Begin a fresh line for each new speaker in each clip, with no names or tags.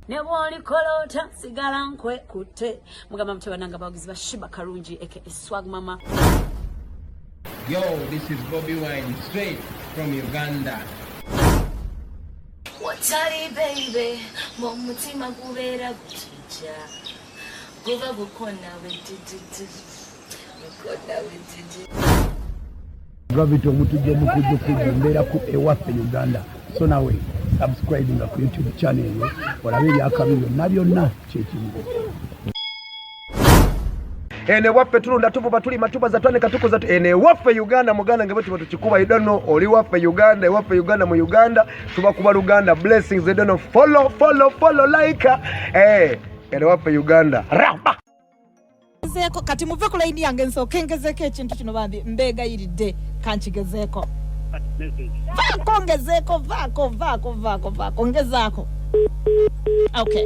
ne bwolikola otya sigala nkwekutte mugamba mutebananga abawagizi ba shiba kalungi eke eswag mama
Yo, this is Bobby Wine, straight from Uganda.
Watari baby, mumutima kubera kuti. Ja, goba gukona wejijiji, gukona
wejijiji. Gravity omutujja omukujja okujja mbeera ku ewaffe Uganda so nawe subscribe nga ku YouTube channel eyo olabe ebyakabi byonna byonna kyekimu
ene waffe tulunda tuvuba tulima tubaza twanika tukuza ene waffe Uganda muganda ngebwe tuba tukikuba idano oli waffe Uganda ewaffe Uganda mu Uganda tuba kuba luganda blessings they don't follow follow follow like eh kale wafe uganda ramba ngezeeko
kati muve ku layini yange nsooke ngezeeko ekintu kino bambi mbeegayiridde kankigezeeko vaako ngezeeko vaako vaako vaako vaako ngezaako okay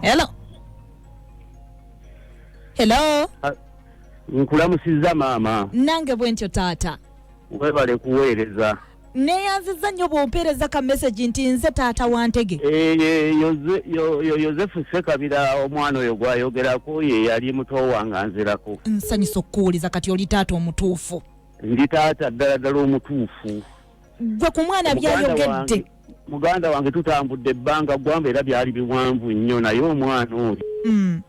hello hello
nkulamusizza maama nange bwentyo
taata webale
kuweereza neyanziza
nnyo bwompeereza ka message nti nze taata wantege Eh, ye- Yoze- yo- yo-
yosefu sekabira omwana oyo gwayogerako ye yali muto wange anzirako nsanyusa okukuwuliza
kati oli taata omutuufu ndi taata
ddala ddala omutuufu gwe ku
mwana byayogedde muganda wange
tutambudde ebbanga gwamba era byali biwanvu nnyo naye omwana oyo mm.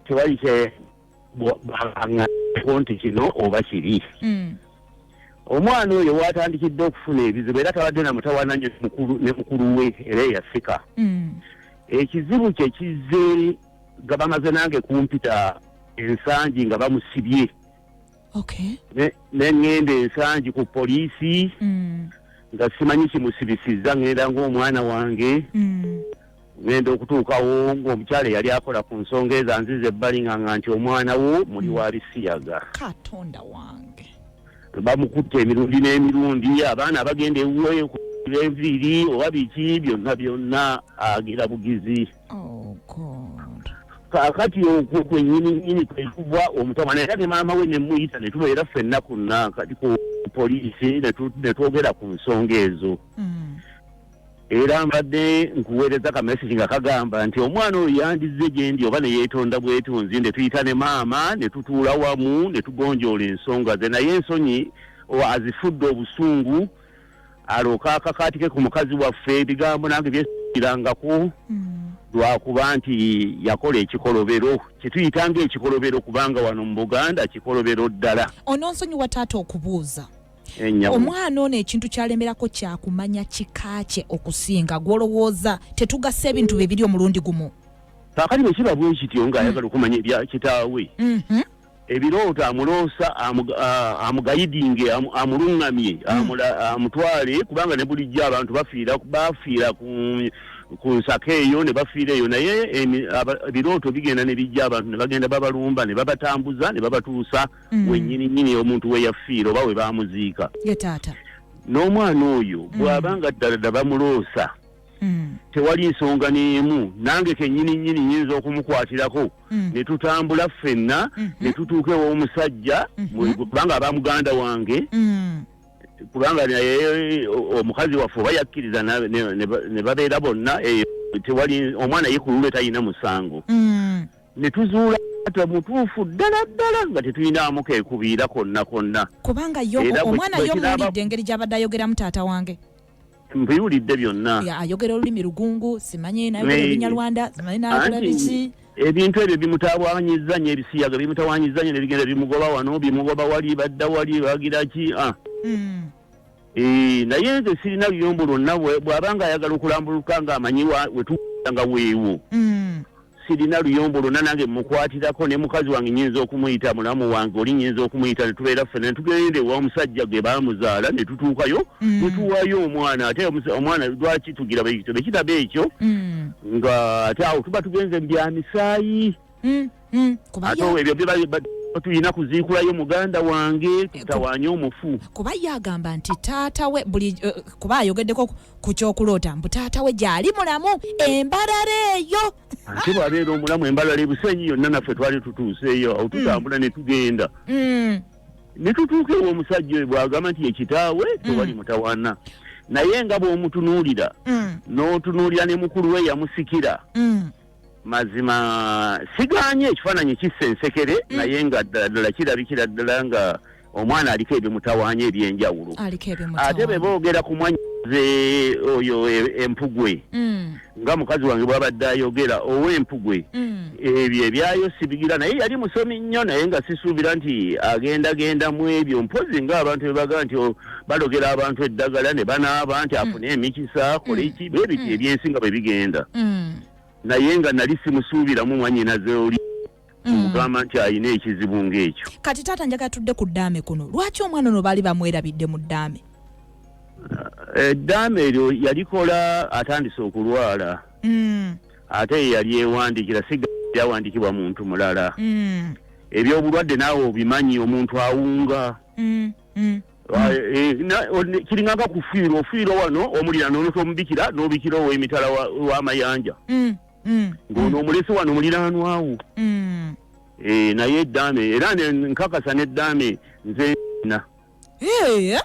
tewali kye nti kino oba kiri mm. omwana oyo watandikidde okufuna ebizibu era tabadde namutawana nyo ne mukulu we era eyasika mm. ekizibu kye kizze gabamaze nange kumpita ensangi nga bamusibye okay. ne ŋŋenda ensangi ku poliisi mm. nga simanyi kimusibisizza ŋŋenda ng'omwana wange mm. ŋŋenda okutuukawo ng'omukyala eyali akola ku nsonga eza nziza ebbali nga nga nti omwana wo muli mm. wa bisiyaga katonda
wange bamukutte
emirundi n'emirundi abaana abagenda ewuwe enviiri oba biki byonna byonna agira bugizi Oh God. kaakati okwo kwenyininyini kwekugwa omutabana era ne maama we nemuyita ne tubeera ffenna ku nakati ku poliisi ne tu- ne twogera ku nsonga ezo Mm. era mbadde nkuweereza ka message nga kagamba nti omwana oyo yandizze gye ndi oba ne yeetonda bwetonzi ne tuyita ne maama ne tutuula wamu ne tugonjoola ensonga ze naye ensonyi o- azifudde obusungu alyoke akakaatike ku mukazi waffe ebigambo nange byesirangako mm. lwakuba nti yakola ekikolobero kyetuyita nga ekikolobero kubanga wano mu buganda kikolobero ddala ononsonyiwa taata
okubuuza omwana ono ekintu kyalemerako kyakumanya kika kye okusinga gwolowooza tetugasa ebintu bye biri omulundi gumu kakati bwekiba
bwekityo ngaayagala mm. okumanya ebya kitaawe mm-hmm. ebirooto amuloosa amugayidinge amuluŋŋamye hmm. amutwale kubanga ne bulijjo abantu bafiira bafiira ku nsaka eyo ne bafiira eyo naye ebirooto bigenda ne bijja abantu ne bagenda babalumba ne babatambuza ne babatuusa hmm. wenyini nyini omuntu we yafiira oba we bamuziika n'omwana oyo hmm. bw'aba nga ddala da bamuloosa mm. tewali nsonga n'emu nange kennyini nnyini nyinza okumukwatirako mm. ne tutambula ffenna mm -hmm. ne tutuuka ew'omusajja mm -hmm. kubanga aba muganda wange mm. kubanga naye omukazi waffe oba yakkiriza ne babeera bonna eyo tewali omwana yekulule talina musango mm. ne tuzuula ata mutuufu ddala ddala nga tetulinamu kekubiira konna konna kubanga
omwana yo muwulidde engeri gy'abadde ayogeramu taata wange mbiwulidde
byonna ayogera olulimi lugungu
simanyi nayogera olunyarwanda simanyi nakola biki ebintu ebyo
bimutawanyiza nyo ebisiyaga bimutawanyiza nyo nebigenda bimugoba wano bimugoba wali badda wali bagira ki ah. hmm. eh, naye nze sirina luyombo lwonna bwaba nga ayagala okulambuluka nga amanyi wetuaa nga weewo hmm. sirina luyombo lwonna nange mmukwatirako ne mukazi wange nnyinza okumuyita mulamu wange oli nnyinza okumuyita ne tubeera ffena ne tugenda ewa omusajja gwe baamuzaala ne tutuukayo mm. ne tuwaayo omwana ate omwana lwaki tugira bekiraba ekyo mm. nga ate awo tuba tugenze mu bya misaayi mm, ate ebyo tulina kuziikulayo muganda wange tutawaanye omufu kuba ye agamba
nti taata we buli eh, kuba ayogeddeko ku kyokuloota mbu taata we gyali mulamu embalala eyo ate bwabeera
omulamu embalala ebusenyi yonna naffe twali tutuuseeyo awo tutambula mm. netugenda mm. netutuuka ewa omusajja oyo bwagamba nti yekitaawe mm. tewali mutawana naye nga bwomutunuulira notunuulira ne mukulu we yamusikira mazima siganye ekifaananyi kissa ensekere naye nga ddala ddala kirabikira ddala nga mm. omwana aliko ebimutawanya ebyenjawulo ate be boogera ku mwanyize oyo e, empugwe mm. nga mukazi wange bwabadde ayogera ow'empugwe mm. ebyo ebyayo sibigira naye yali musomi nnyo naye nga sisuubira nti agendagenda mu ebyo mpozi nga abantu bebaga nti oh, balogera abantu eddagala ne banaaba nti mm. afune emikisa kole ki bwe biti ebyensi nga bwe bigenda naye nga nali simusuubiramu mwanyinaze oli kyemugamba mm. nti alina ekizibu ngaekyo kati taata njagala tudde
ku ddaame kuno lwaki omwana ono baali bamwerabidde mu ddaame eh, eddaame
eryo yalikola atandise okulwala mm. ate yeyali ewandikira sigaawandikibwa muntu mulala mm. ebyobulwadde naawe obimanyi omuntu awunga Ah, eh, eh, kiringanga kufiirwa ofiirwa wano omulirano ntomubikira nobikira owemitala wamayanja mm. mm. ng'ono mm. omulesi wano muliraanwawo mm. eh, naye eddaame era nkakasa n'eddaame nze na eh,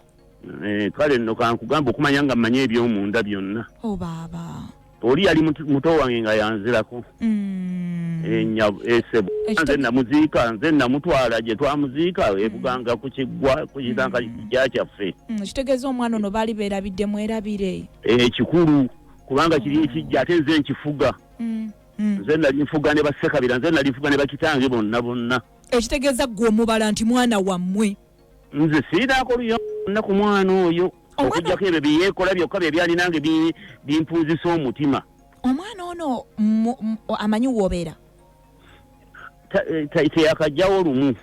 eh, kale nno kankugamba okumanya nga mmanyi eby'omunda byonna oh, oli yali muto wange nga yanzirako esebo nze namuziika nze namutwala gye twamuziika ebuganga ku kiggwa ku kitanga kija kyaffe kitegeeza omwana ono
baali beerabidde mwerabire ekikulu
kubanga kiri ekijja ate nze nkifuga mm, mm. nze nali nfuga ne basekabira nze nali nfuga ne bakitange bonna bonna ekitegeeza ggwe
omubala nti mwana wammwe nze
siinaako luyonna ku mwana oyo okujjako ebyo byeyeekola byokka bye byalinange bimpunzisa omutima omwana ono
amanyi woobeera
teyakajjawo lumu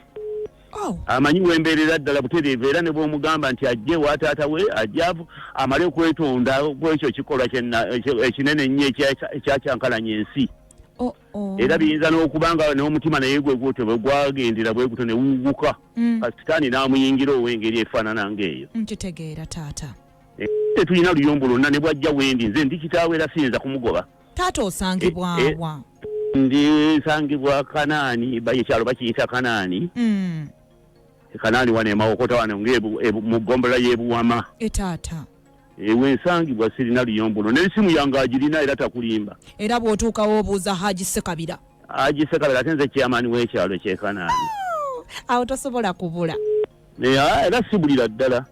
oh. amanyi wembeerera ddala butereevu era ne bwomugamba nti ajje wa taata we ajja amale okwetonda kwekyo kikolwa ekinene ennyo ekyakyankalanya ensi oh, oh. era biyinza n'okuba nga n'omutima naye gwe gutyo bwe gwagendera bwe gutyo ne wuguka mm. kasitaani n'amuyingira ow'engeri efaanana ng'eyo nkitegeera taata
eh, tetulina
luyombo lwonna ne bwajja wendi nze ndi kitaawo era siyinza kumugoba taata
osangibwa eh, eh, wa ndi
nsangibwa kanaani ekyalo bakiyita kanaani mm. e kanaani wano emawokota wano nga e mu gombola y'ebuwama etaata
ewe nsangibwa
sirina luyombono n'esimu yange agirina era takulimba era bw'otuukawo
obuuza haji sekabira haji sekabira ate
nze kyamaani w'ekyalo kyekanaani awo
tosobola kubula Ah, era
sibulira ddala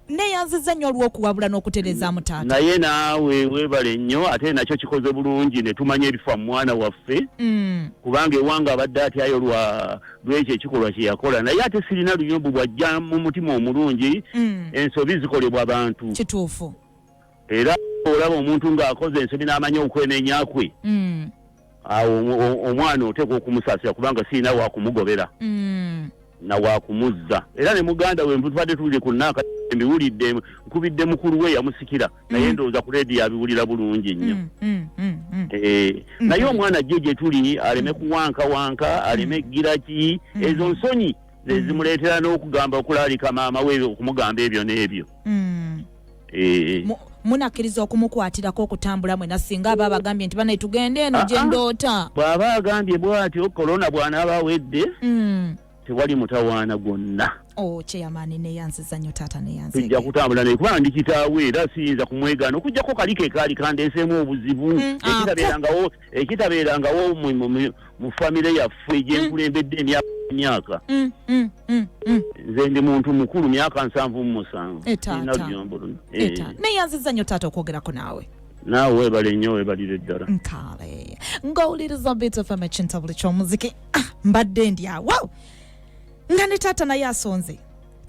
neyanziza nnyo
olwokuwabula n'okutereezaamu taata naye naawe
weebale nnyo ate nakyo kikoze bulungi ne tumanya ebifa mu mwana waffe mm. kubanga ewange abadde atyayo lwa lwekyo ekikolwa kye yakola naye ate sirina luyombo bwajja mu mutima omulungi mm. ensobi zikolebwa bantu kituufu
era
olaba omuntu ng'akoze ensobi n'amanya okwenenya kwe mm. awo omwana oteekwa okumusaasira kubanga sirina wakumugobera mm. na wakumuzza era ne muganda we mutubadde tuwulire ku naaka mbiwulidde nkubidde mukulu we yamusikira naye mm. ndowooza ku leediyo abiwulira bulungi nnyo mm, mm, eh, naye omwana jjo gye tuli aleme kuwankawanka aleme giraki ezo nsonyi zezimuleetera n'okugamba okulaalika maama we okumugamba ebyo n'ebyo eh.
munakkiriza okumukwatirako okutambula mwena singa aba abagambye nti banaye tugende eno ah, gye ah. ndoota bw'aba agambye
bw'atyo kolona bw'anaaba awedde hmm. tewali mutawaana gwonna oh, kyeyamaani
neyanziza nnyo taata neyanzi tujja kutambula naye kubanga
ndi kitaawe era siyinza kumwegaana okujjako kali ke kaali kandenseemu obuzibu hmm, ah, ekitabeerangawo ekitabeerangawo mu famire yaffe mm. gyenkulembedde emyaka emyaka mm, mm, mm, nze ndi muntu mukulu myaka nsanvu mumusanvu eh, eh. naye aziza nyo
taata okwogerako naawe naawe webale
nnyo webalire ddala nkale
ng'owuliriza bitfm ekintabuli ky'omuziki ah, mbadde ndyawo nga ne taata naye asonze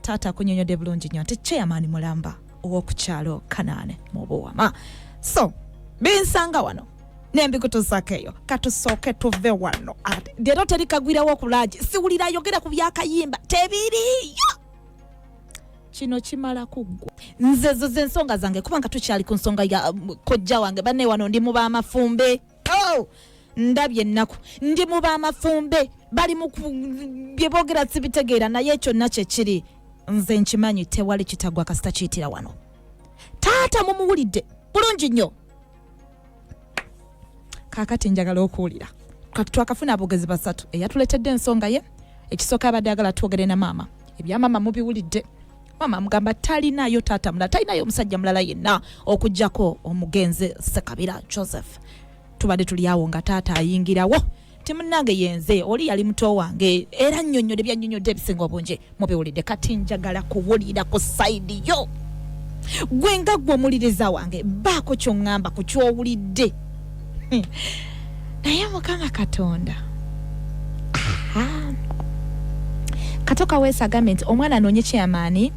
taata akunyonyodde bulungi nnyo nti chairman mulamba owokukyalo kanaane mu buwama so binsanga wano nembikutuzaako eyo katusooke tuve wano leero teri kagwirawo kulagi siwulira ayogera ku byakayimba tebiriyo kino kimala kuggwa nze zo zensonga zange kubanga tukyali ku nsonga ya um, kojja wange banne wano ndi mu bamafumbe oh! ndabye ennaku ndi mu bamafumbe bali mu bye boogera sibitegeera naye ekyo nna kyekiri nze nkimanyi tewali kitagwa kasita kiyitira wano taata mumuwulidde bulungi nnyo kakati njagala okuwulira kati twakafuna aboogezi basatu eyatuleetedde ensonga ye ekisooka abadde agala twogere na maama ebyamaama mubiwulidde maama amugamba talinayo taata mulala talinayo omusajja mulala yenna okugyako omugenzi sekabira joseph tubadde tuli awo nga taata ayingirawo ti munange yenze oli yali muto wange era nnyonnyode byannyonnyodde ebisinga obungi mubiwulidde kati njagala kuwulira ku sayidi yo gwe nga gwe omuliriza wange baako kyoŋŋamba ku kyowulidde naye mukama katonda katoka wesa agambe nti omwana anoonye kyamaani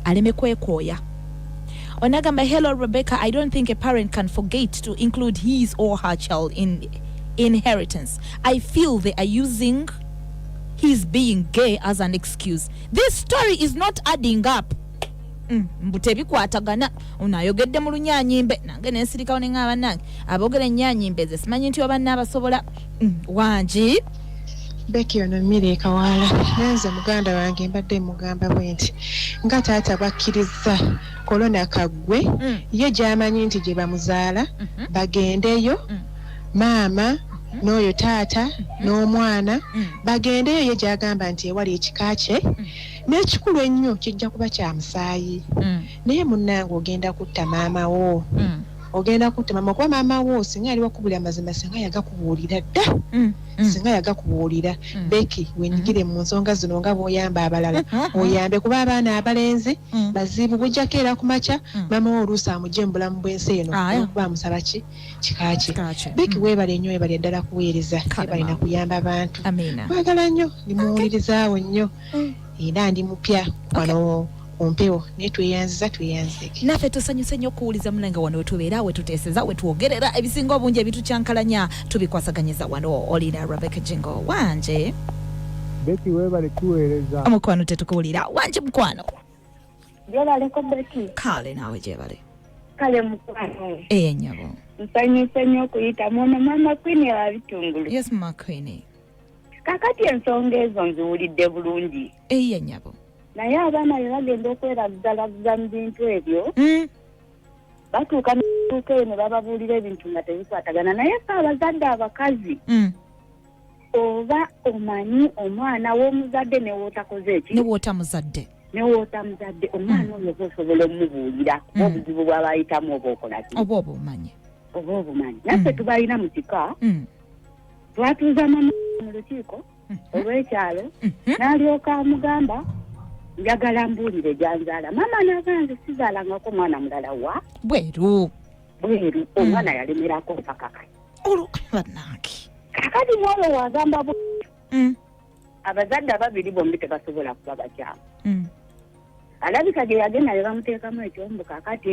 aleme kwekooya onagamba hello rebecca i don't think a parent can forget to include his or her child in inheritance i feel they are using his being gay as an excuse this story is not adding up Mm, mbu tebikwatagana ono ayogedde mu lunyanyimbe nange nensirikawo ne ŋaa banange aboogera enyanyimbe ze simanyi nti oba naabasobola mm, wangi beki
ono mmiri ekawaala nenze muganda wange mbadde mugamba bwe nti nga taata bwakkirizza kolona kaggwe mm. ye gyamanyi nti gye bamuzaala mm-hmm. bagendeyo mm. maama mm-hmm. n'oyo taata mm-hmm. n'omwana bagendeyo ye gyagamba nti ewali ekika kye N'ekikulu ennyo kijja kuba kya musaayi. Mm. Naye munnange ogenda kutta maama wo. Mm. Ogenda kutta maama kuba maama wo singa yali wakubuulira amazima singa yagakubuulira dda. Mm. Mm. Singa yagakubuulira. Mm. Becky mm-hmm. wenyigire mm. mu nsonga zino nga bw'oyamba abalala. Mm-hmm. Oyambe kuba abaana abalenzi mm. bazibu bujjako era ku makya mm. maama wo oluusi amugye mu bulamu bw'ensi eno ah, olwokuba yeah. amusaba ki kika kye. Becky mm. weebale nnyo weebale ddala kuweereza. Weebale na kuyamba abantu. Twagala nnyo ndi muwulirizaawo nnyo. mm. era ndi mupya wano okay. kumpewo naye tweyanziza tweyanzizeki naffe tusanyuse nnyo okuwuliza munange wano wetubeera wetuteeseza wetwogerera ebisinga obungi ebitukyankalanya tubikwasaganyiza wano olina rebeka jingo wanje beti
webale tuweereza omukwano tetukuwulira
wanje mukwano gyebaleko
beti kale naawe gyebale
kale
mukwano eyenyabo
nsanyuse nnyo
okuyitamu ono mama kwini abitungulu yes mama kwini
kakati
ensonga ezo nziwulidde bulungi eyiye nyabo
naye abaana
be bagenda okwerazzalazza mu bintu ebyo hmm? batuuka mutuuka eyo ne bababuulira ebintu nga tebikwatagana naye fe abazadde abakazi hmm. oba omanyi omwana w'omuzadde newootakoze eki newoota muzadde
newoota muzadde
omwana hmm. oyo oba osobola omubuulira kuba obuzibu bwabayitamu oba okolaki oba oba omanyi
oba obumanyi naffe
tubalina mu kika twatuuza mama mu lukiiko mhm. olw'ekyalo mhm. n'alyoka amugamba njagala mbuulire gyanzaala maama naga nze sizaalangako omwana mulala wa bweru
bweru mm.
omwana yalemerako mpakaka olbanange
kakati
mwalo wagamba bu mm. abazadde ababiri bombi tebasobola kuba bakyamu mm. alabika gye yagenda ne bamuteekamu ekyombuka kati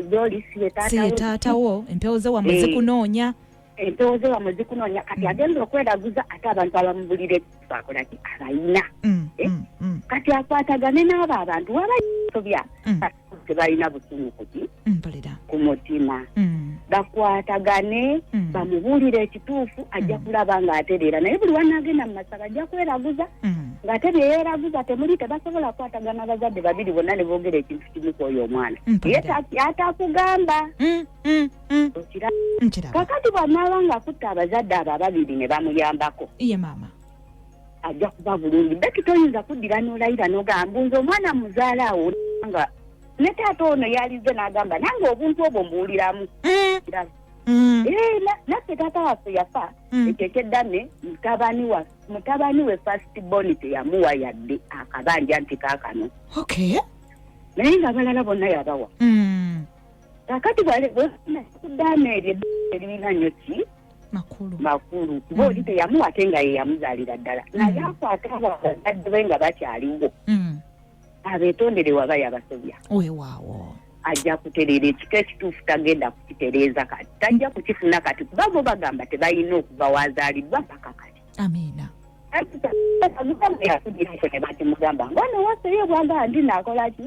gyoli siye taatawo
empewo ze wamwe zikunoonya eh. empewo ze wamwe zikunoonya kati mm. agenda okweraguza ate abantu abamubulira ekibakola ki abayina mm, eh? mm, kati akwatagane n'abo abantu wabasobya tebalina busungu kuki ku mutima bakwatagane bamubuulire ekituufu ajja kulaba nga atereera naye buli wanaagenda mu masaba ajja kweraguza ng'ate bye yeeraguza temuli tebasobola kukwatagana abazadde babiri bonna ne boogera ekintu kimu ku oyo omwana ye ataakugamba Mm. Okiraba? nkiraba kakati bw'anaaba ng'akutte abazadde abo ababiri ne bamuyambako iye maama ajja
kuba bulungi beki toyinza kuddira n'olayira n'ogamba mbu nze omwana muzaala awo nga ne taata ono yalizze n'agamba nange obuntu obwo mbuwuliramu Mm, Kiraba? mm, Eh, na- naffe taata waffe yafa mm. ekyo ekyeddame mutabani wa mutabani we first born teyamuwa yadde akabanja nti kaakano okay naye nga abalala bonna yabawa Mm. kakati bwalikudaana eryo eririna nyo ki makulu makulu kuba oli teyamuwa ate nga yeyamuzaalira ddala naye akwata abo abazadde be nga bakyaliwo
abetondere
waba yabasobya wewaawo ajja kutereera ekika ekituufu tagenda kukitereeza kati tajja kukifuna kati kuba bo bagamba tebalina okuva wazaalibwa mpaka kati amiina
mukama yakudireko
ne bakimugamba ngone wasoye obwanga ndi nakola ki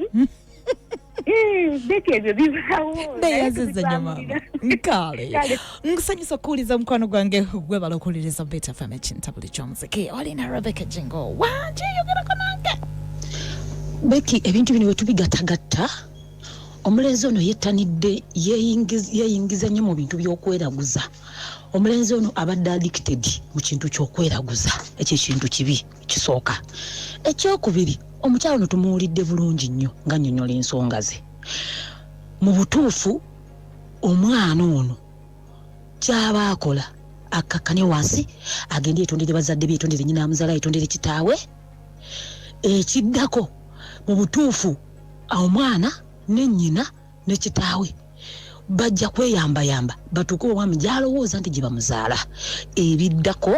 biki ebyo bibaawo neyaziza nnyo
maama nkale Kale. nkusanyusa okuwuliza mukwano gwange gwebala okuwuliriza beta fm ekintabuli ky'omuziki olina rebeka jingo wanje yogerako nange
beki ebintu bino wetubigatagatta omulenzi ono yettanidde yeyingiz- yeyingiza nnyo mu bintu by'okweraguza omulenzi ono abadde addicted mu kintu kyokweraguza ekyo ekintu kibi kisooka ekyokubiri omukyalo no tumuwulidde bulungi nnyo nga nyonyola ensonga ze mu butuufu omwana ono kyaba akola akkakkane wansi agende etondere bazadde bye etondere nyina amuzala etondere kitaawe ekiddako mu butuufu omwana ne nyina ne kitaawe bajja kweyambayamba batuuke omwami gy'alowooza nti gye bamuzaala ebiddako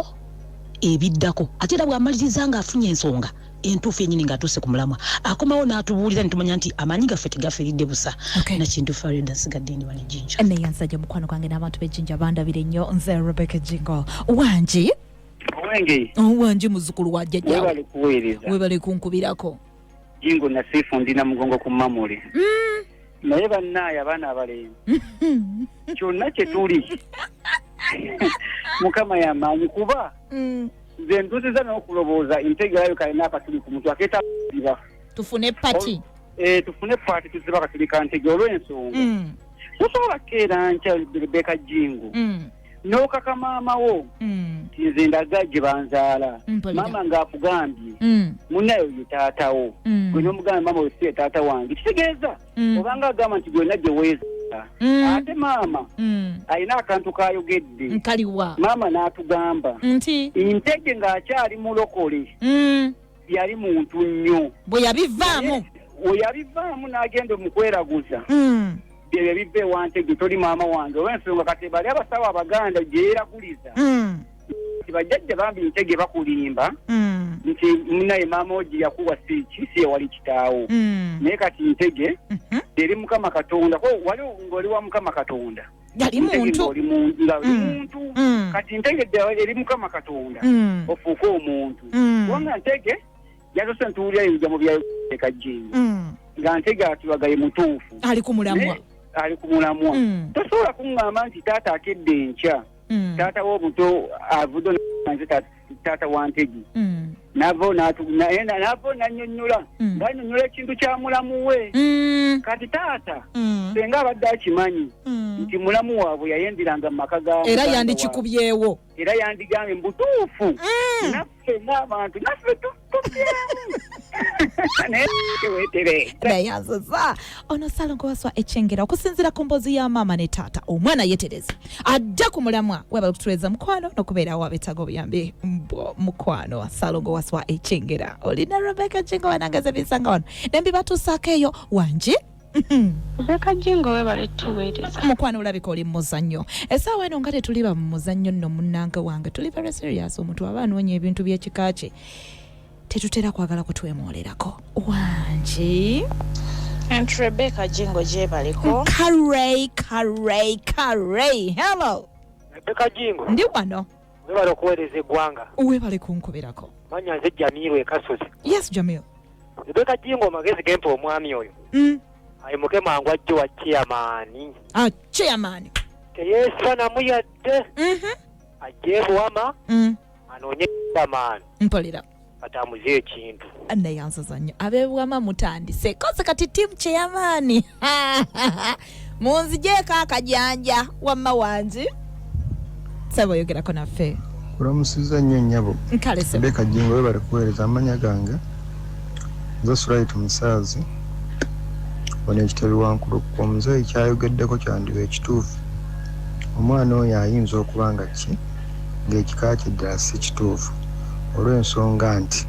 ebiddako ate era bw'amaliriza ng'afunye ensonga entuufu yenyini ng'atuuse ku mulamwa akomawo n'atubuulira ne tumanya nti amaanyi gaffe tegafiiridde busa okay. nakintu farida nsigadde ndi wano ejinja naye nsajja mukwano gwange
n'abantu b'ejinja bandabira ennyo nze rebecca jingo wangi wangi muzukulu wa jjajjawe
webale kunkubirako
jingo
nasifu ndi na mugongo ku mamuli mm. naye bannaye abaana abalenzi kyonna kye tuli mukama yamaanyi kuba mm. nze ntuziza n'okulowooza entegerayo kalina akatuli ku mutu akeeta ziba tufune pati
eh, tufune pati
tuziba akatuli ka ntege olw'ensonga mm. tosobola keera nkya rebeka jingo mm. n'okaka maama wo mm. ti nze ndaga gye banzaala mm, maama ng'akugambye mm. munayo ye taata wo gwe n'omugambye maama wesi ye taata wange kitegeeza obanga agamba nti gyonna gye weeza ate maama alina akantu kayogedde nkaliwa maama
n'atugamba
nti
ntege ng'akyali
mulokole yali muntu nnyo bwe yabivaamu
weyabivaamu n'agenda omukweraguza
hmm. byebyo biva ewantege toli maama wange olwensonga kati bali abasawo abaganda gyeyeraguliza hmm. nti bajjajja bambi ntege bakulimba hmm. nti munaye maama ogi yakuwa siiki si yewali kitaawo naye kati ntege mhm. eri mukama katonda wali ng'oli wa mukama katonda yali muntu oli
muntu nga mm. muntu mm. kati
ntegedde eri mukama katonda mm. ofuuke omuntu kubanga ntege yatose ntuwulira ebija mu byaleka jingo nga ntege atibagaye mutuufu ali ku mulamwa
ali ku mulamwa
tosobola kuŋŋamba nti taata akedde enkya taata w'obuto avudde nze taata taata wa ntegi mm. navo navo nanyonyola mm. nanyonyola ekintu kya mulamu we mm. kati taata senga abadde akimanyi nti mulamu waabwe yayembiranga mu maka ga era yandikikubyewo
era yandigambye
mubutuufu naffe ngaabantu naffe naye wetere
naye azoza ono salongo waswa ekyengera okusinzira ku mbozi ya maama ne taata omwana yetereza ajja ku mulamwa webala okutuweeza mukwano nokubeerawo abetaaga obuyambi mbo mukwano salongo waswa ekyengera olina rebeka jingo wanangaza ebinsanga wano nembibatuusaako eyo wanje Rebecca
Jingo webale tuweereza. Mukwano olabika oli
muzannyo. Essaawa eno nga tetuli ba muzannyo nno munnange wange tuli very serious omuntu aba anoonya ebintu by'ekika kye tetutera kwagala kutwemwolerako wangi
And Rebecca Jingo gyebaliko. Karey, Karey,
Karey. Hello. Rebecca Jingo.
Ndi wano.
Webale okuweereza
eggwanga. Webale kunkuberako.
Manya nze Jamiru
ekasozi. Yes Jamiru.
Rebeka Jingo
magezi gempa omwami oyo. Mm. Ayimuke mangu ajje wa chairman. Ah, chairman.
Teyesa
na muyadde. Mhm. Mm Ajje buwama. Mm. Anoonye chairman. Mpolira.
atambuze
ekintu naye ansaza nnyo
abebwama mutandise koze kati tiimu kyeyamaani munzijeeko akajanja wamma wangi saba oyogerako naffe kulamusiza nnyo
nnyabo nkalesebeka jingo
webale
kuweereza amanya gange nze surayiti musaazi ono ekitebe wankulu ku omuzeeyi kyayogeddeko kyandiba ekituufu omwana oyo ayinza okuba nga ki ng'ekika kye ddala si kituufu olw'ensonga nti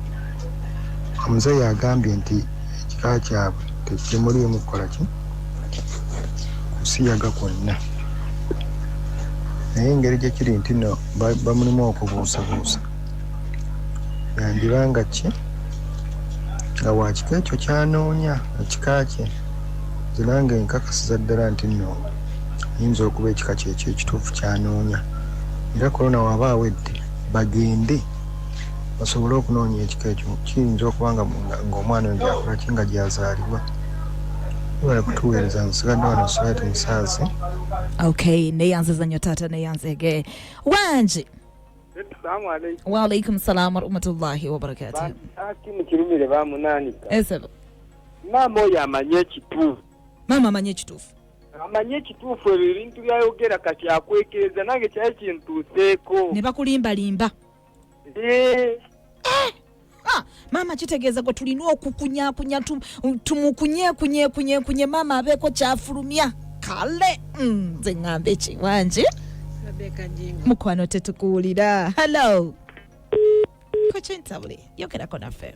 omuzeeyi agambye nti ekika kyabwe tekimuliimu kukola ki? kusiyaga kwonna naye engeri gye kiri nti nno bamulimu okubuusabuusa yandiba nga ki nga wa kika ekyo ky'anoonya ekika kye nze nange nkakasiza ddala nti nno ayinza okuba ekika kyekyo ekituufu ky'anoonya era Corona w'aba awedde bagende basobole okunoonya ekika ekyo. Kiyinza okuba nga ng'omwana oyo gy'akula ki nga gy'azaalibwa. Webale kutuweereza nsigadde wano Sweat Musaazi. Okay,
neyanziza nnyo taata neyanzege wangi
waalaikum salaamu
warahmatullahi wabarakatuh Bambi, ah, kino kirumire
bamunanika esebo
maama oyo
amanyi ekituufu maama amanyi
ekituufu amanyi ekituufu
ebyo ebintu byayogera kati akwekereza nange kyali kintuuseeko ne bakulimbalimba
eh. Eh. Ah, maama kitegeeza gwe tulina okukunyakunya tumukunyekunyekunyekunye maama abeeko kyafulumya kale mm, nze ŋŋamba ekiwangi mukwano tetukuwulira hallo kokintabuli yogerako naffe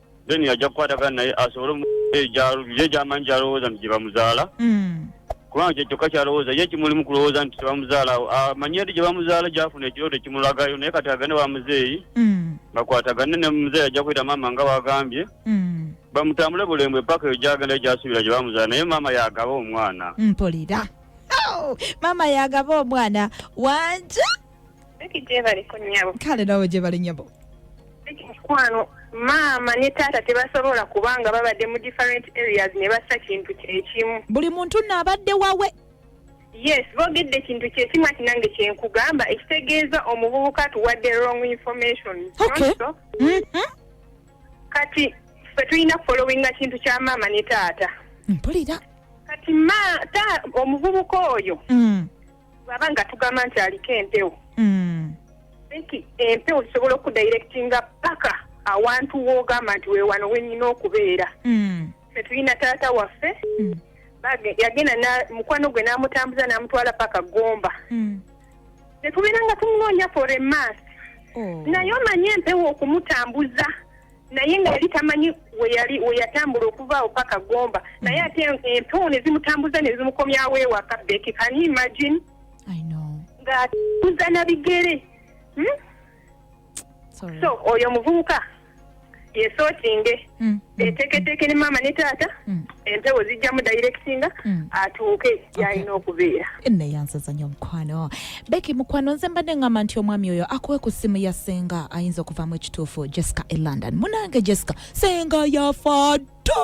then ajja kukwatagana naye asobole ye gyamanyi gyalowooza nti gyebamuzaala mm. kubanga kyekyokka kyalowooza ye kimulimu kulowooza nti tebamuzaala amanyi eri gyebamuzaala gyafuna ekirooto ekimulagayo naye kati agane wa muzeeyi mm. bakwatagane ne muzeeyi ajja kuyita maama nga wagambye mm. bamutambule bulembwe paka eyo gyagenda gyasuubira gyebamuzaala naye maama yagaba omwana mpulira
oh, maama yagaba omwana wanja kale nawe gyebale nyabo mukwano
maama ne taata tebasobola kubanga babadde mu different areas ne bassa kintu kyekimu buli muntu naabadde
wawe yes
bogedde ekintu kyekimu ati nange kyenkugamba ekitegeeza omuvubuka tuwadde wrong information okay. so, mm -hmm. kati fe tulina kufolowinga kintu kya maama ne taata mpulira
kati ma
ta omuvubuka oyo mm. bwaba nga tugamba nti aliko empewo mm. think empewo zisobola okudirectinga paka awantu wogamba nti wewano wenyina okubeera mm. fetulina taata waffe mm. yagenda mukwano gwe namutambuza namutwala paka gomba mm. netubeera nga tumunoonya for a mas oh. naye omanye empewo okumutambuza naye nga yali tamanyi weyali weyatambula okuva awo paka gomba mm. naye ate empewo nezimutambuza nezimukomyawo ewaka beki can you imagine ngatuza na bigere hmm? so oyo omuvubuka yesotinge mm, mm, eteketeeke ne maama ne taata empewo zijjamu directinga mm. atuuke gyalina okubeera neyanzaza nyo
omukwano beki mukwano nze mbadde ngamba nti omwami oyo akuwe ku ssimu ya senga ayinza okuvamu ekituufu jessica e london munange jessica senga yafa ddo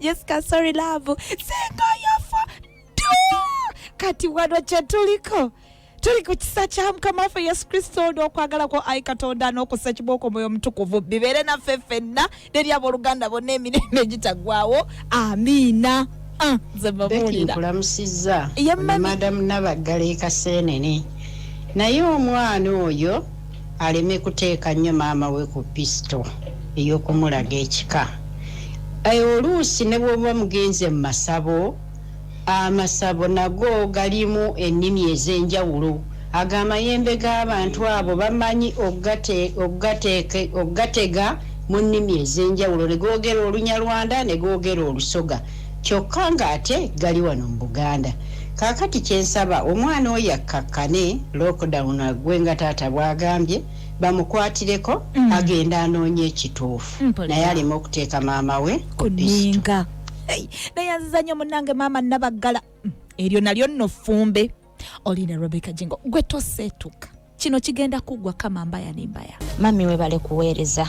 jessica sorry love senga yafa ddo kati wano kyetuliko tuli ku kisa kya mukama waffe yesu kristo n'okwagala kwo ayi katonda n'okussa kibooko omwoyo omutukuvu bibeere naffe ffenna neri abooluganda bonna emirembe egitaggwawo amiina ah, nze mbabuulira nkulamusizza
Ye mami. madamu nabaggala ekaseenene naye omwana oyo aleme kuteeka nnyo maama we ku pisito ey'okumulaga ekika Eh, oluusi ne bwoba mugenze mu masabo Amasabo nago galimu ennimi ez'enjawulo. Ago amayembe g'abantu abo bamanyi okugatega mu nnimi ez'enjawulo ne googera Olunyarwanda ne googera Olusoga kyokka ng'ate gali wano mu Buganda. Kaakati kye nsaba omwana oyo akkakkane lockdown aggwe nga taata bw'agambye bamukwatireko agende anoonye ekituufu naye aleme okuteeka maama we ku pisitu.
neyanziza nyo munange maama nabaggala mm, eryo nalyo nno ffumbe olina rebeka jingo gwe toseetuka kino kigenda kuggwa kama mbaya nembaya mami webale
kuweereza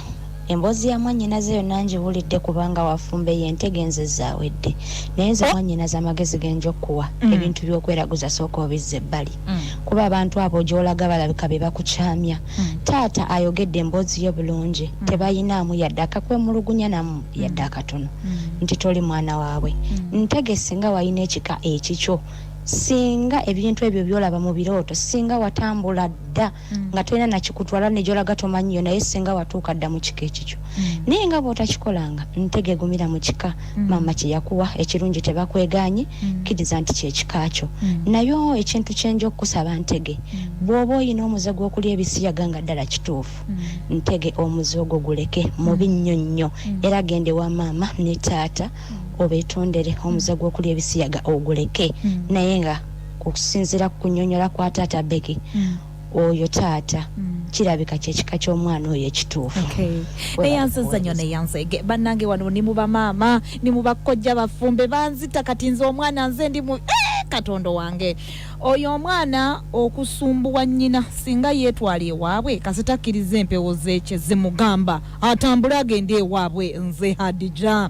emboozi ya mwanyinaze yonna ngiwulidde kubanga wafumbe ye entegenze zaawedde naye nze oh. mwanyinaze amagezi genja okukuwa mm. ebintu byokweraguza sooka obizza ebbali mm. kuba abantu abo gyolaga balabika be bakukyamya Taata ayogedde emboozi yo bulungi tebayinaamu yadde akakwemulugunya namu yadde akatono nti toli mwana waabwe. Ntege singa walina ekika ekikyo singa ebintu ebyo byolaba mu birooto singa watambula dda nga tolina nakikutwala negyolaga tomanyiyo naye singa watuuka dda mu kika ekikyo. Naye nga bwotakikolanga ntege gumira mu kika. mm. maama kyeyakuwa ekirungi tebakwegaanyi mm. kkiriza nti kyekika kyo mm. naye ekintu kyenja okukusaba ntege bw'oba olina omuze gw'okulya ebisiyaga nga ddala kituufu ntege omuze ogwo guleke mubi nnyo nnyo era gende wa maama ne taata obetondere omuze gw'okulya ebisiyaga oguleke naye nga okusinziira ku kunyonyola kwa taata beki oyo taata mm. kirabika kyekika kyomwana oyo ekituufu eyanziza
nyo neyanzege banange wano ni mu bamaama ni mu bakkojja bafumbe banzita kati nze omwana nze ndi mu eh, katondo wange oyo omwana okusumbuwa nnyina singa yeetwala ewaabwe kasita akkiriza empewo zeekye zimugamba atambule agende ewaabwe nze hadija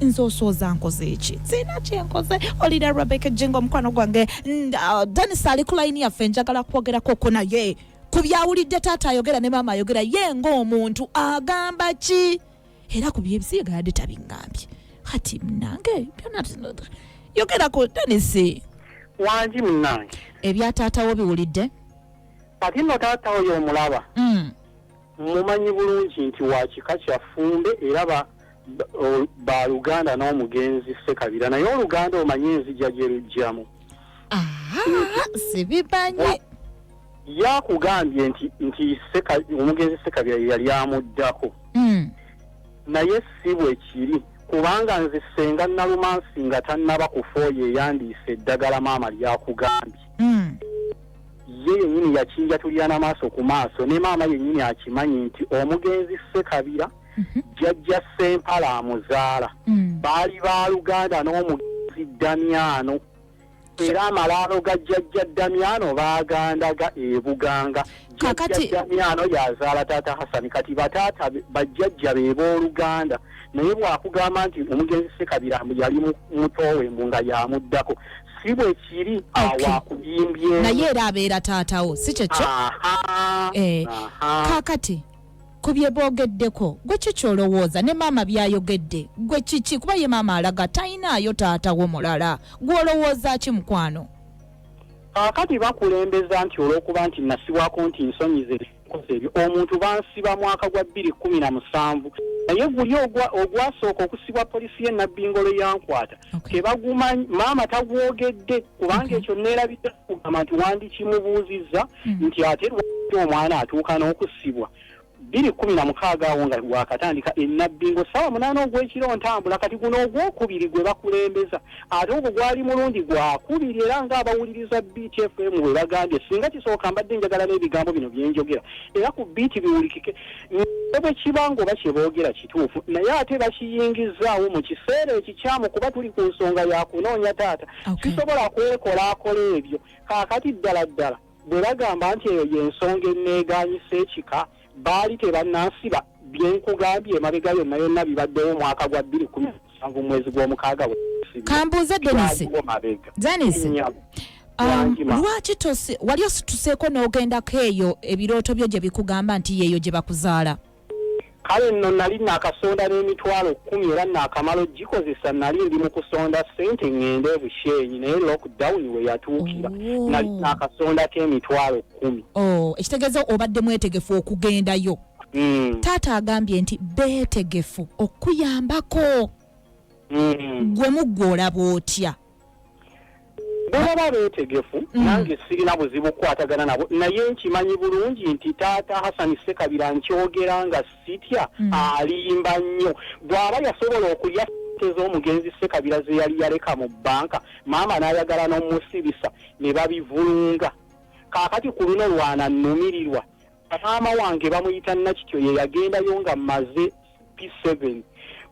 nze osooza nkoze eki sirina kyenkoze olira rebeka ejinga omukwano gwange uh, denis ali ku layini yaffe njagala kwogerakoko naye ku byawulidde taata ayogera ne maama ayogera ye ngaomuntu agamba ki era ku byebisiyaga yadde tabiŋambye kati munange byona yogerako denis wangi
munange ebya taatawo
biwulidde kati
no taatawo yomulaba mm. mumanyi bulungi nti wakika kyafumbe era baluganda n'omugenzi sekabira naye oluganda omanye enzija gye lujjamu
sibimanyi
yakugambye nti nti omugenzi sekabira yeyali amuddako hmm. naye si bwe kiri kubanga nze senga nalumansi nga tannaba kufa oyo eyandiisa eddagala maama lyakugambye hmm. ye yennyini yakinjatulira na maaso ku maaso ne maama yennyini akimanyi nti omugenzi sekabira mhm. jjajja sempala amuzaala mm. baali baluganda n'omugenzi damyano era amalaalo ga jjajja damyano baagandaga ebuganga jjajja damyano yazaala taata hasani kati bataata bajjajja be booluganda naye bwakugamba nti omugenzi sekabira yali mutoowe mbu nga yamuddako si bwe kiri awakuyimbye naye era abeera
taatawo si kyekyo eh, kakati ku bye boogeddeko gwe ki ky'olowooza ne maama by'ayogedde gwe kiki kuba ye maama alaga talinaayo taata wo mulala gw'olowooza ki mukwano kaakati
bakulembeza nti olw'okuba nti nasibwako nti nsonyize ebikoze ebyo omuntu bansiba mwaka gwa bbiri kkumi na musanvu naye guli ogwasooka okusibwa poliisi ye nabbingolo yankwata tebagumanyi maama tagwogedde kubanga ekyo neerabidde kugamba nti wandikimubuuzizza hmm. nti ate lwaki omwana atuuka n'okusibwa bbiri kkumi na mukaaga awo nga wakatandika enabbi ngo ssaawa munaana ogw'ekiro ntambula kati guno ogwokubiri gwe bakulembeza ate ogwo gwali mulungi gwakubiri era ng'abawuliriza btfm bwe bagambye singa kisooka mbadde njagala n'ebigambo bino byenjogera era ku biiti biwulikike ne bwe kiba ng'oba kye boogera kituufu naye ate bakiyingizaawo mu kiseera ekikyamu kuba tuli ku nsonga ya kunoonya taata sisobola kwekolaakola ebyo okay. Kaakati ddala ddala bwe bagamba nti eyo ye nsonga enneegaanyisa ekika, baali tebannansiba. Bye nkugambye emabega yonna yonna bibaddewo omwaka gwa bbiri kkumi na musanvu mu mwezi gw'omukaaga bwe nasibibwa. Ka mbuuze
Denis. Kyaliwo mabega. Denis. Nnyabo. Um, Wangi ma. lwaki tosi wali osituseeko n'ogendako eyo ebirooto byo gye bikugamba nti yeeyo gye bakuzaala? Kale
nno nnali nnakasonda n'emitwalo kkumi era nnaakamala okugikozesa. Nnali ndi mu kusonda ssente ŋŋende e Bushenyi naye lockdown we yatuukira. Nnali nnaakasondako emitwalo kkumi. Oh, ekitegeeza obadde
mwetegefu okugendayo? Mm. Taata agambye nti beetegefu okukuyambako. Mm. Gwe muggwe olaba otya?
bwebaba beetegefu mm. nange sirina buzibu kukwatagana nabo naye nkimanyi bulungi nti taata hasani sekabira nkyogera nga sitya mm. alimba nnyo bw'aba yasobola okulya sente z'omugenzi sekabira ze yali yaleka mu bbanka maama n'ayagala n'omusibisa ne babivulunga kaakati ku luno lwananumirirwa maama wange bamuyita nakityo ye yagendayo nga maze P7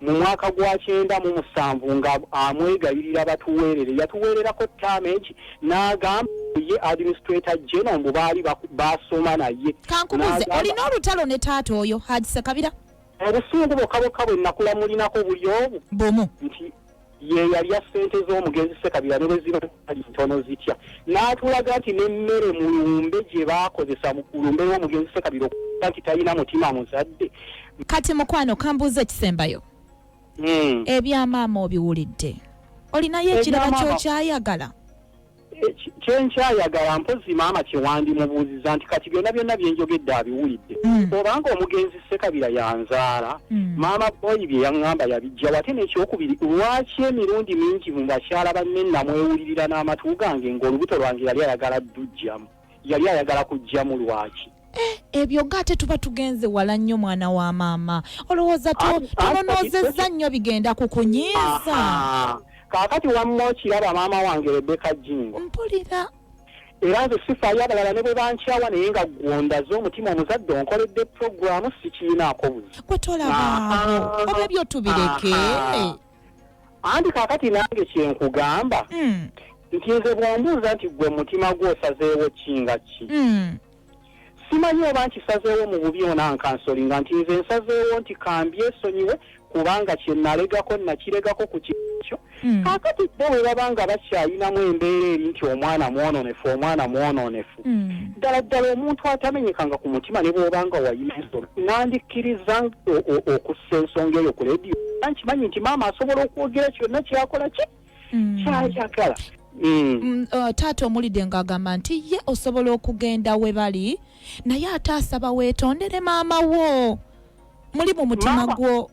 mu mwaka gwa kyenda mu musanvu nga amwegayirira batuweerere yatuweererako tamage n'agamba ye administrator general mbu baali basoma naye kankubuze olina
olutalo ne taata oyo hajisakabira obusungu bokka
bokka bwe nakula mulinako buli omu bumu nti ye yalya ssente z'omugenzi Ssekabira ne bwe ziba zali ntono zitya n'atulaga nti n'emmere mu lumbe gye baakozesa mu lumbe lw'omugenzi Ssekabira okuba nti talina mutima muzadde. Kati mukwano
kambuuza ekisembayo hmm. ebya maama obiwulidde olinayo ekirala kyokyayagala? Kyenkyayagala
mpozzi maama kyewandimubuuziza nti kati byonna byonna byenjogedde abiwulidde mm. obanga omugenzi Ssekabira yanzaala mm. maama boyi byeyaŋŋamba yabijjawo ate n'ekyokubiri lwaki emirundi mingi mu bakyala banne namwewulirira n'amatu gange ng'olubuto lwange yali ayagala ddujjamu yali ayagala kujjamu lwaki eh, ebyo ga
ate tuba tugenze wala nnyo mwana wa maama olowooza tubonoozezza nnyo bigenda ku kunyiiza kaakati
wamma okiraba maama wange rebeka jingo mpulira
era nze
sifaayo abalala ne bwe bankyawa naye nga gwondaze omutima omuzadde onkoledde puroguramu sikiinaako buzi gwe tolabaawo
oba ebyo tubireke
anti kakati nange kyenkugamba mm. nti nze bwombuuza nti gwe mutima gwo osazeewo ki nga ki mm. simanyi oba nkisazeewo mu bubi ona nkansoli nga nti nze nsazeewo nti kambyesonyiwe kubanga kyenalegako nakiregako ku kikyo mm. kakati bo bwe babanga bakyayinamu embeera eri nti omwana mwononefu omwana mwononefu hmm. ddala ddala omuntu atamenyekanga ku mutima ne bwobanga wayina ensolo nandikkiriza okussa ensonga eyo ku lediyo nkimanyi nti maama asobola okwogera kyonna kyakola ki hmm. kyayagala Mm.
Mm, uh, taata omulide nga agamba nti ye osobola okugenda we bali naye ate asaba weetondere maama wo muli mu mutima gwo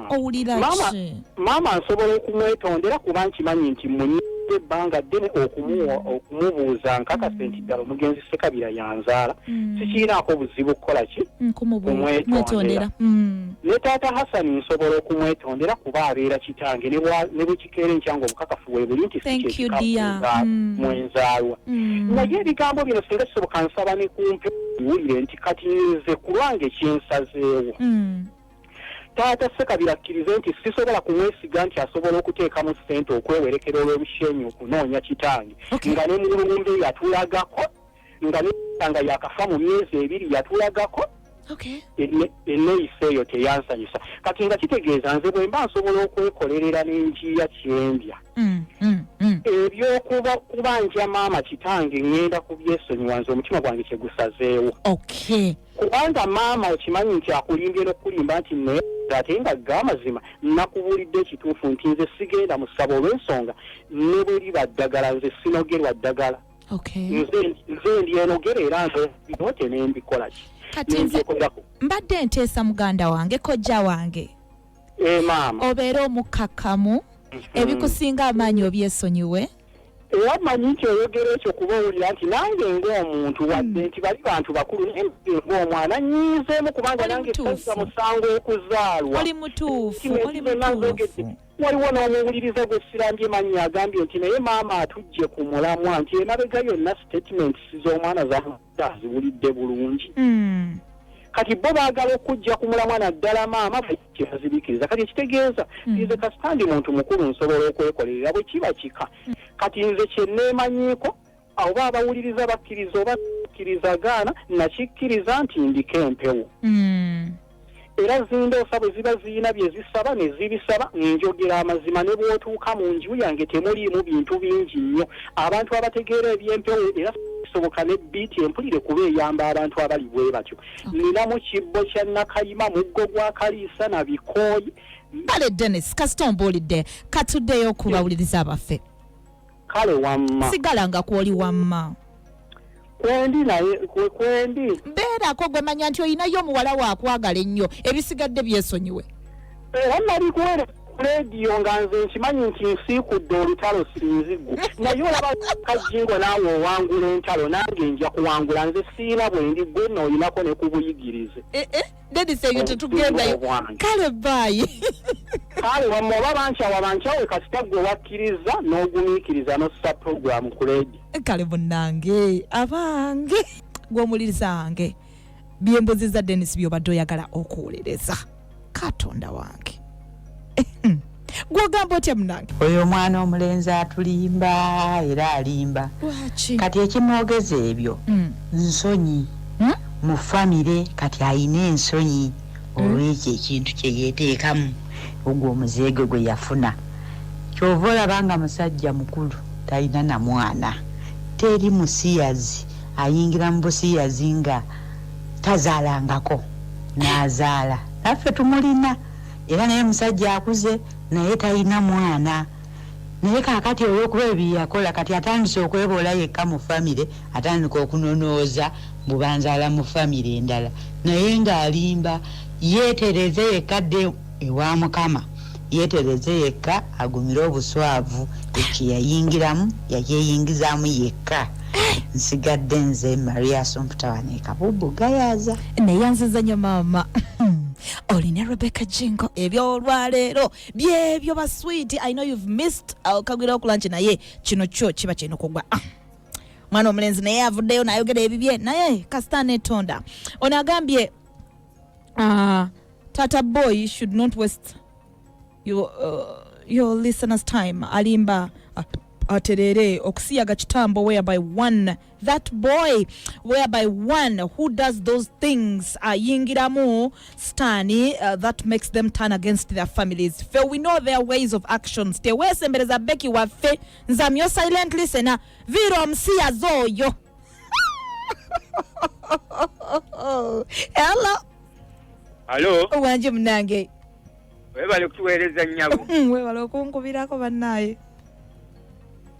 owulira ki maama nsobola
okumwetondera kuba nkimanyi nti munyidde ebbanga ddene okumubuuza mm. nkakase nti ddala omugenzi sekabira yanzaala mm. sikiinaako buzibu kukola ki mm, kumwetondera ne taata hasani nsobola okumwetondera kuba abeera kitange ne bwekikeera enkyanga obukakafu webuli nti sikyekikakuzaala mwenzaalwa naye ebigambo bino singa kisoboka nsaba ne kumpe wulire nti kati nze kulwange kyensazeewo Taata Ssekabira akkirize nti sisobola kumwesiga nti asobola okuteekamu ssente okwewerekera olw'obushenyi okunoonya kitange nga ne mululumbe yatulagako nga nga yakafa mu myezi ebiri yatulagako enneeyisa eyo teyansanyusa kati nga kitegeeza nze bwe mba nsobola okwekolerera n'enjiiya kyendya mm, mm, mm. ebyokuba kubanja maama kitange ŋŋenda kubyesonyiwa nze omutima gwange kyegusazeewo Kubanga maama okimanyi nti akulimbye nokukulimba nti neebaza ate nga gamazima nakubuulidde ekituufu nti nze sigenda mu ssabo olwensonga nebweriba ddagala nze sinogerwa ddagala nze nze ndyenogera era nze byote nembikolaki kati nze
mbadde nteesa muganda wange kojja wange eh, maama
obeere
omukkakkamu mm-hmm. ebikusinga amaanyi obyesonyiwe era
manyi nti oyogera ekyo kuba owulira nti nange ng'omuntu wadde hmm. nti bali bantu bakulu naye ng'omwana nyiizeemu kubanga nange sazza musango okuzaalwa oli mutuufu
oli mutuufu
waliwo n'omuwuliriza gwe sirambye manyi agambye nti naye maama atujje ku mulamwa nti emabega yonna statements z'omwana zamu aziwulidde bulungi mm. kati bo baagala okujja ku mulamwa naddala maama kyebazibikiriza kati ekitegeeza mm. nze kasita ndi muntu mukulu nsobola okwekolerera bwe kiba kika mm. kati nze kyeneemanyiiko oba abawuliriza bakkiriza oba akkiriza gaana nakikkiriza nti ndiko empewo Era zindoosa bwe ziba zirina bye zisaba ne zibisaba. Njogera amazima, ne bw'otuuka mu nju yange temuliimu bintu bingi nnyo. Abantu abategeera eby'empewo era kisoboka ne bbiiti empulire kuba eyamba abantu abali bwe batyo. Nninamu kibbo kya Nakayima, muggo gwa Kaliisa na bikooyi. Kale Denis,
kasita ombuulidde, ka tuddeyo ku bawuliriza baffe. kale
wamma sigala nga kwoli
wamma
kwendi naye kwendi beerako gwe
manya nti olinayo omuwala wakwagala ennyo ebisigadde byesonyiwe era nali
kuwere leediyo nga nze nkimanyi nti nsiikudde olutalo sinzigu naye olaba kajingo naawe owangula entalo nange nja kuwangula nze siina bwendi gwenna olinako ne kubuyigirize eh, eh. nedisa ebyo
tetugendayo kale baayi kale
wamwe oba bankyawa bankyawe kasita gwe wakkiriza n'ogumiikiriza n'ossa program ku ledi kale munange
abange gwomulirizange byembuzi za denis byobadde oyagala okuwuliriza katonda wange gwogamba otya munange oyo omwana omulenzi
atulimba era alimba kati ekimwogeza ebyo mm. nsonyi hmm? mu famire kati ayina ensonyi hmm? olwekyo ekintu kyeyeteekamu ogwo omuzeegwe gwe yafuna kyova olaba nga musajja mukulu talina na mwana teri musiyazi ayingira mu busiyazi nga tazaalangako nazaala naffe tumulina Era naye musajja akuze naye tayina mwana naye kakati olwokuba ebyeyakola kati atandise okweboola yekka mu family atandika okunonooza mbu banzaala mu family endala naye nga alimba yetereeze yekka adde ewa mukama yetereeze yekka agumire obuswaavu ekyo kyeyayingiramu yakyeyingizaamu yekka nsigadde nze Maria Assumpta wano e Kabubbu Gayaza. Neyanziza nyo
maama. oli ne rebecca jingo ebyolwaleero byebyo baswiiti i know you've missed okagwira uh, okulanki naye kino kyo kiba kirina okugwa ah. mwana omulenzi naye avuddeyo nayogera ebibye naye kasita netonda ono agambye uh, tata boy should not waste your, uh, your listeners time alimba uh, aterere okusiyaga kitambo whereby one that boy whereby one who does those things uh, yingiramu stani uh, that makes them turn against their families fe we know their ways of actions tewesembereza beki waffe nzamyo silent listener viro omusiyazi oyo
hello alo wanje munange
webale
kutuweereza nyabo webale okunkubirako
bannaye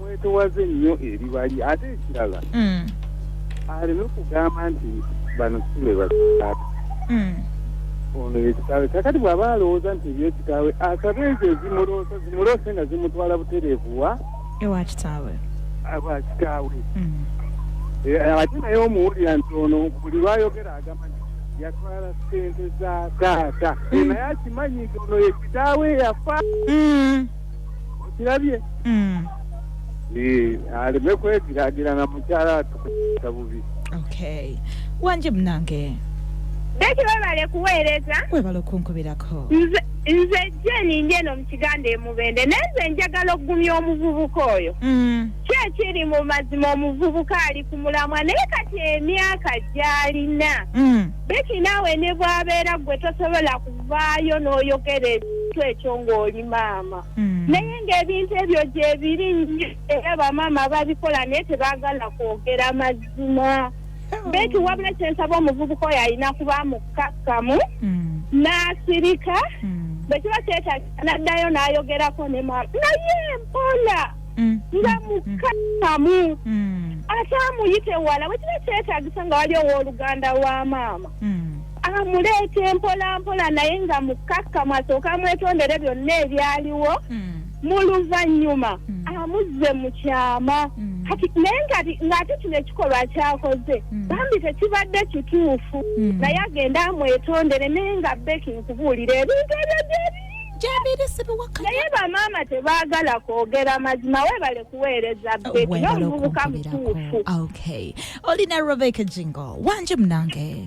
mwetowaze nnyo ebibali ate ekirala mm. aleme kugamba nti bano sibe bakitaabe mm. ono yekitaawe kakati bw'aba alowooza nti ebyekitaawe asabe ezo ezimuloosa zimuloosa nga zimutwala butereevuwa ewa kitaawe
aba kitaawe
mm. eh, ate naye omuwulira nti ono buli lwayogera agamba nti yatwala sente za taata naye akimanyi nti ono yekitaawe yafa okirabye mm. eh, aleme kwegiragira na mukyala atukuta bubi okay
wanje munange beki
webale kuweereza webale okunkubirako
nze nze
jeni ndi eno mu kiganda emubende naye nze njagala okugumya omuvubuka oyo mm. kyekiri mu mazima omuvubuka ali ku mulamwa naye kati emyaka gyalina mm. beki naawe ne bwabeera gwe tosobola ku okuvaayo n'oyogera ekintu ekyo ng'oli maama hmm. naye ng'ebintu ebyo gyebiri nnyo era bamaama babikola naye tebaagala kwogera mazima hmm. beti wabula kyensaba omuvubuka oyo alina kuba mukkakkamu hmm. n'asirika bwe kiba kyetagisa n'addayo n'ayogerako ne maama naye mpola nga mukkakkamu ate amuyite wala bwe kiba kyetagisa nga wali ow'oluganda wa maama amuleete mpola mpola naye nga mukkakkamu asooke amwetondere byonna ebyaliwo hmm. mu luvannyuma hmm. amuzze mu kyama hmm. kati naye ng'ate kino ekikolwa kyakoze bambi tekibadde kituufu naye agenda amwetondere naye nga beki nkubuulira ebintu ebyo gyebi naye bamaama tebaagala kwogera mazima webale kuweereza beki n'omuvubuka mutuufu
olina rebeka jingo wanje munange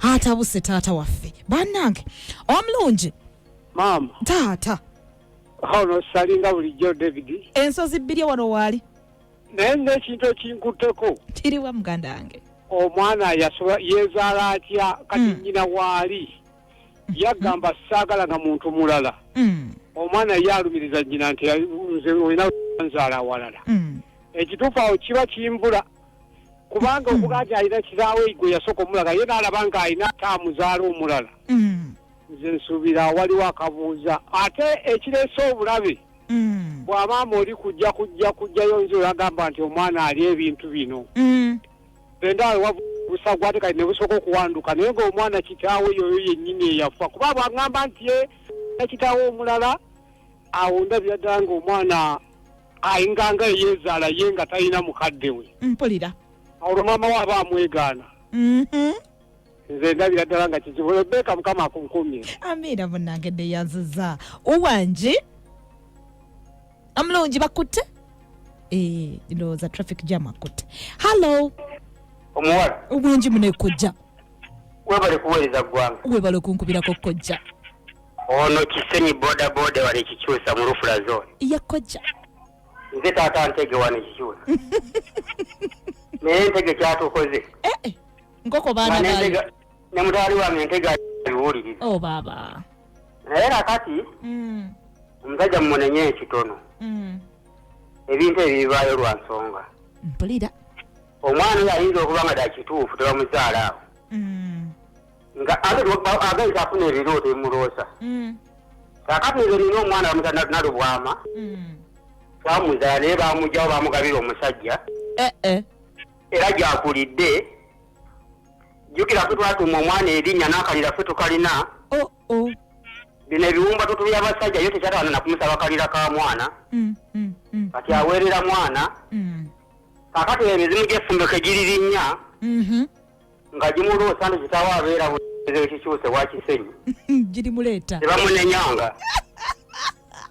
atabuse
taata waffe banange omulungi maama
taata
ono
salinga bulijjo david ensozi bbiri wano
waali naye ngaekintu
ekinkutteko kiriwa muganda
wange omwana yasoba
yezaala atya kati mm. nyina waali yagamba saagala nga muntu mulala mm. omwana ye alumiriza nyina nti nze olina nzaala awalala mm. ekituufu awo kiba kimbula kubanga okuba nti alina kiraawe gwe yasooka omulaga ye n'alaba nga alina ate amuzaala omulala Mm. nze nsuubira waliwo akabuuza ate ekireese obulabe Mm. bw'amaama oli kujja kujja kujjayo nze olagamba nti omwana ali ebintu bino Mm. endawe wabusa gwate kati ne busooka okuwanduka naye ng'omwana kitaawe yoyo yennyini eyafa kuba bw'aŋŋamba nti ye na kitaawe omulala awo ndabira ddala ng'omwana ayinga nga eyeezaala ye nga talina mukadde we mpulira
olwo maama we
aba amwegaana Mhm. nze ndabira ddala nga kizibu rebeka mukama akunkumye amiina munange
neyanziza owangi omulungi bakutte Eh, ndowooza traffic jam akutte hallo omuwala
owangi munekojja
webale
kuweereza ggwanga webale okunkubirako
kojja Ono
Kisenyi boda boda wali Kikyusa mu Lufula zone. Ya kojja.
Nze
taata Ntege wani Kikyusa. Naye Ntege kyatukoze. Eh, eh. Nkoko
baana baali. Ne mutwali wange
Ntege aliwuliriza. Oh baba.
Naye
nakati mm. omusajja mumunenye ekitono mm. ebintu ebibibaayo lwa nsonga. Mpulira.
Omwana
oyo ayinza okuba nga dakituufu tebamuzaala awo. Mm. nga ate agenda afuna ebirooto emuloosa mm. kakati nze nina omwana bamutanalubwama mm. twamuzala naye bamugyawo bamugabira omusajja eh, eh. era gyakulidde jukira fe twatuuma omwana erinnya n'akalira fe tukalina oh, oh. bino ebiwumba tutubi abasajja yo tekyatawana nakumusaba kalira ka mwana mm, kati aweerera mwana kakati emizimu gy'effumbeko egiririnnya mm-hmm. nga gimuluusa nti kitaawo abeera buzibu ekikyuse wa kisenyi girimuleeta
tebamunenyanga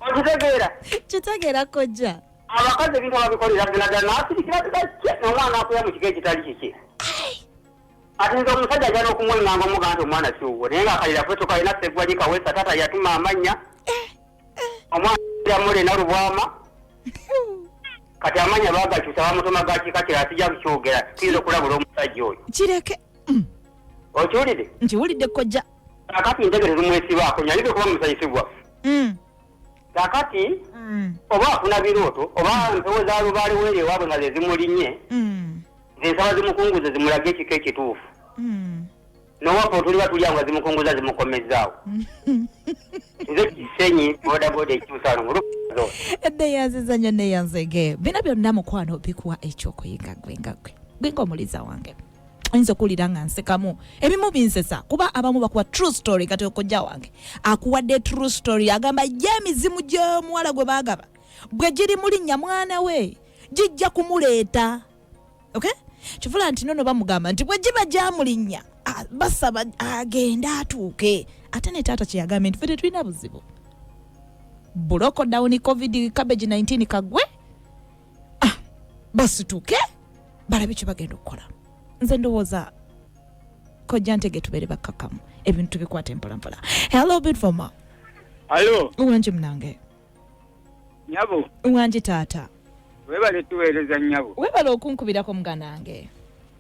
okitegeera kitegeera kojja
abakazi ebintu
ababikolera ddala nasirikira ddakye nomwana akuya mu kika ekitali kiki ati nze omusajja ajana okumwenganga omuga nti omwana kiwuwo naye nga akalira kwetukalina segwali kawesa taata yatuma amanya omwana mule nalubwama kati amanya bagakyusa bamutuma gakika kira atija kukyogera tuyinza okulabula omusajja oyo kireke
mm.
okiwulire nkiwulidde kojja
kakati ntegere
lumwesibaako nyalide kuba musanyusibwa mm. kakati mm. oba afuna birooto oba mpewo za lubaale weere ewaabwe nga zezimulinye zensaba zimukunguze zimulage ekiko ekituufu nowapa otuliba tuli awo nga zimukunguza zimukomezzaawo nze kisenyi bodaboda ekimusalongo
neyanziza nyo neyanzege bino byonna mukwano bikuwa ekyokuyiga gwe nga gwe gwenga omuliza wange oyinza okuwulira nga nsekamu ebimu binsesa kuba abamu bakuwa true story kati okojja wange akuwadde true story agamba ye emizimu gyomuwala gwe bagaba bwe giri mulinnya mwana we gijja kumuleeta okay kivula nti nono bamugamba nti bwe giba gyamulinnya basaba agende atuuke ate ne taata kyeyagambye nti fe tetulina buzibu buloko dawuni covid cabbage 19 kagwe ah, basituke balabe kye bagenda okukola nze ndowooza kojja ntege tubeere bakkakamu ebintu tubikwata empolampola hello bitfoma alo
uwanji munange nyabo wangi
taata webale
tuweereza nyabo webale okunkubirako
muganange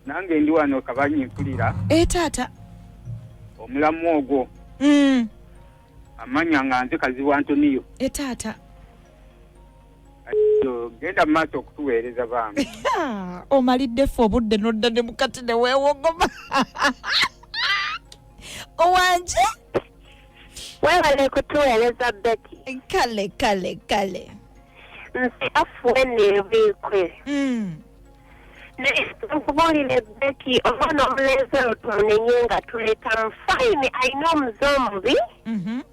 nange ndi
wano kabanyi mpulira e taata omulamu ogwo mm. amanya nga nze kazibu antoniyo e taata genda mumaaso okutuweereza bambi omalidde
fe obudde nodda ne mukati newewogoma owanje
webale kutuweereza beti kale kale kale nsi afuwe neebwikwe mm. naye nkubuulire beti omwana omulenzi oyo tumunenye nga tuleeta mu fayini alina omuze omubi mm -hmm.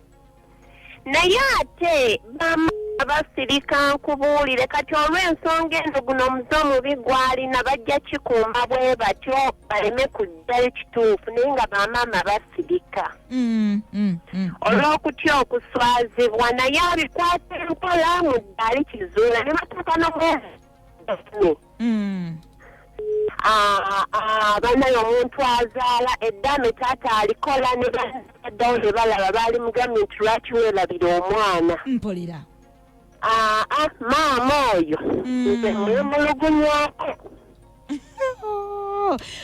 naye ate bama abasirika nkubuulire kati olw'ensonga eno guno omuze omubi gwalina bajja kikumba bwe batyo baleme kujjayo kituufu naye nga bamaama basirika Mm, mm, mm. olw'okutya okuswazibwa naye abikwata empola mu ddaali kizuula ne batuuka n'omwezi Mm. Ah, ah, banaye omuntu azaala eddaame taata alikola ne baddawo ne balaba baali mugambye nti lwaki weerabira omwana mpulira
aa ah, maama
oyo mm. nze mwemulugunyako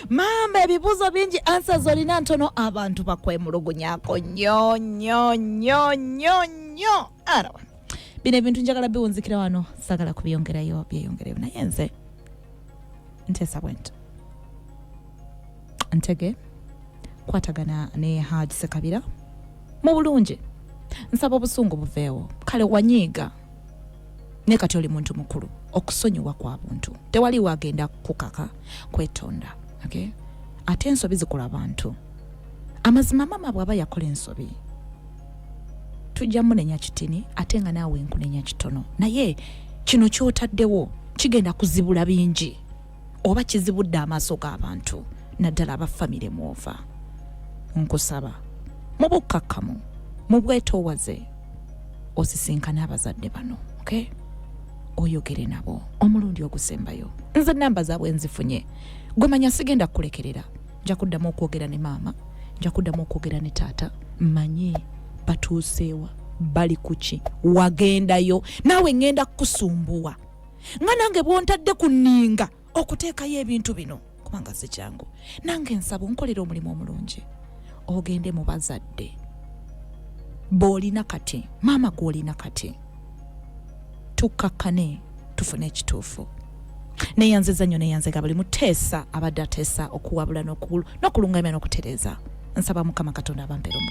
maama ebibuuzo bingi ansa zolina ntono abantu bakwemulugunyako nyo nyo nyo nyo nyo arawa bino ebintu njagala biwunzikira wano sagala kubyongerayo byeyongereyo naye nze nteesa bwento ntege kwatagana ne haji sekabira mu bulungi nsaba obusungu buveewo kale wanyiiga naye kati oli muntu mukulu okusonyiwa kwa buntu tewali wagenda kukaka kwetonda okay? ate ensobi zikola bantu amazima mama bwaba yakola ensobi tujja munenya kitini ate nga naawe nkunenya kitono naye kino kyotaddewo kigenda kuzibula bingi oba kizibudde amaaso g'abantu naddala aba famire mwova nkusaba mu bukkakkamu mu bwetoowaze osisinkane abazadde bano okay? oyogere nabo omulundi ogusembayo nze namba zaabwe nzifunye gwemanya sigenda kukulekerera nja kuddamu okwogera ne maama nja kuddamu okwogera ne taata manye batuuseewa bali kuki wagendayo naawe ŋŋenda kukusumbuwa nga nange bwontadde ku nninga okuteekayo ebintu bino kubanga si kyangu nange nsaba onkolera omulimu omulungi ogende mu bazadde boolina kati maama gwolina kati tukkakkane tufune ekituufu neyanziza nnyo neyanzega buli muteesa abadde ateesa okuwabula n'okulungamya n'okutereeza nsaba mukama katonda abampeera omu